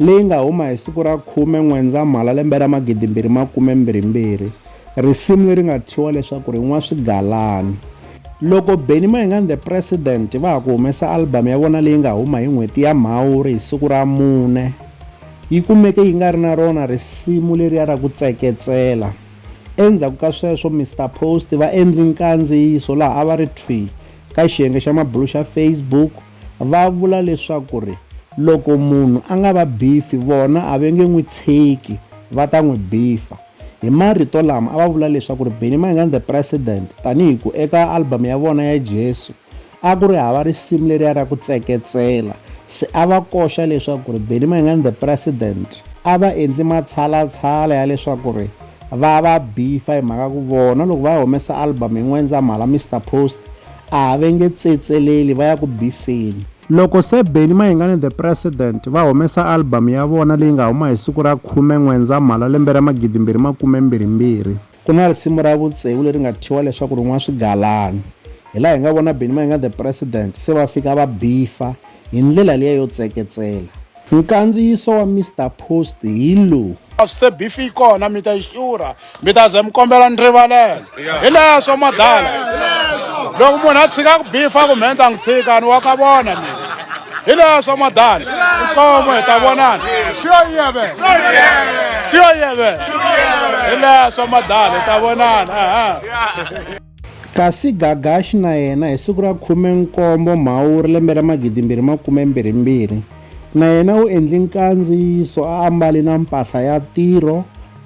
leyi nga huma hi siku ra khume N'wendzamhala lembe ra magidimbirhi makume mbirhi mbirhi, risimu leri nga thyiwa leswaku ri Nwa Swigalani. Loko Benny Mayinga and the President va ha ku humesa album ya vona leyi nga huma hi n'hweti ya Mhawuri hi siku ra mune, yi kumeke yi nga ri na rona risimu leriya ra ku tseketsela. Endzhaku ka sweswo Mister Post va endli nkandziyiso laha a va ri thwii ka xiyenge xa mabulu xa Facebook, va vula leswaku ri loko munhu a nga va bifi vona a ve nge n'wi tshiki va ta n'wi bifa. Hi marito lama a va vula leswaku ri Benny Mayengani the President tanihi ku eka album ya vona ya Jesu a ku ri hava risimu leriya ra ku tseketsela se a va koxa leswaku ri Benny Mayengani the President a va endli matshalatshala ya leswaku ri va va bifa hi mhaka ku vona loko va humesa album hi N'wendzamhala Mister Post a va nge tsetseleli va ya ku bifeni. Loko Sir Benny Mayengani The President va humesa album ya vona leyi nga huma hi siku ra khume N'wendzamhala lembe ra magidimbirhi makume mbirhi mbirhi, ku na risimu ra vutsevu leri nga thyiwa leswaku ri n'wa swigalani hi laha hi nga vona Benny Mayengani The President se va fika va bifa hi ndlela liya yo tseketsela. Nkandziyiso wa Mister Post hi lowu. Se beef yi kona mi ta yi xurha mi ta ze mi kombela ni rivalelo hi leswo madala loko munhu a tshika ku bifa ku mhenta n'wi tshika ni wa ka vona mina hi leswo madala nkomo hi ta vonana siyo yeve siyo yeve hi leswo madala hi ta vonana Kasi Gagaxi na yena hi siku ra khume-nkombo Mhawuri lembe ra magidimbirhi makume-mbirhi-mbirhi, na yena u endli nkandziyiso a ambali na mpahla ya tirho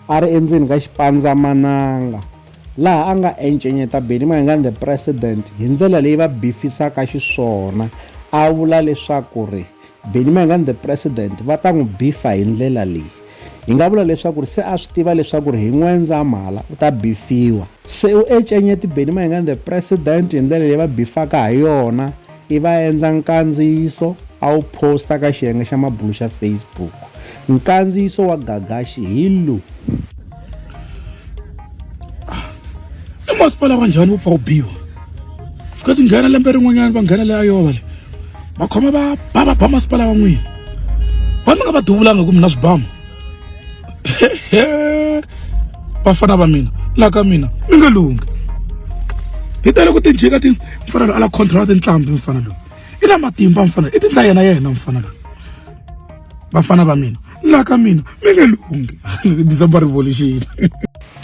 a ri endzeni ka xipandzamananga, laha a nga encenyeta Benny Mayengani The President hi ndlela leyi va bifisaka xiswona, a vula leswaku ri Benny Mayengani the president va ta n'wi bifa hi ndlela leyi hi nga vula leswaku ri se a swi tiva leswaku ri hi n'wendzamhala u ta bifiwa se u ecenyeti beni mayengani the president hi ndlela leyi va bifaka ha yona i va endla nkandziyiso a wu posta ka xiyenge xa mabulo xa facebook Nkandziyiso wa Gagaxi hi lu. I masipala wa njhani wu pfa wu biwa? Fika ti nghena lembe rin'wanyana va nghena le Iowa le. Va khoma va ba va ba masipala wa n'wina. Va mi nga va duvulanga ku mi na swibamu. Vafana va mina la ka mina mi nga lunghi. Hi tele ku ti jika ti mfanelo ala contract ntlhambi mfana loyi. i na matimba mfana i tindla yena yena mfana la vafana va mina la ka mina mi nge lunghi december revolution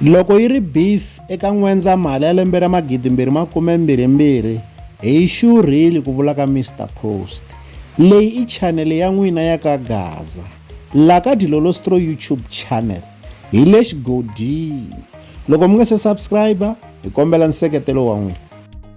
loko yi ri beef eka n'wendza mali ya lembe ra magidimbirhi makumembirhimbirhi hi xurhile ku vula ka mr post leyi i chanele ya n'wina ya ka gaza la ka dilolostro youtube channel hi le xigodini loko mi nga se subscribe hi kombela nseketelo wa n'wina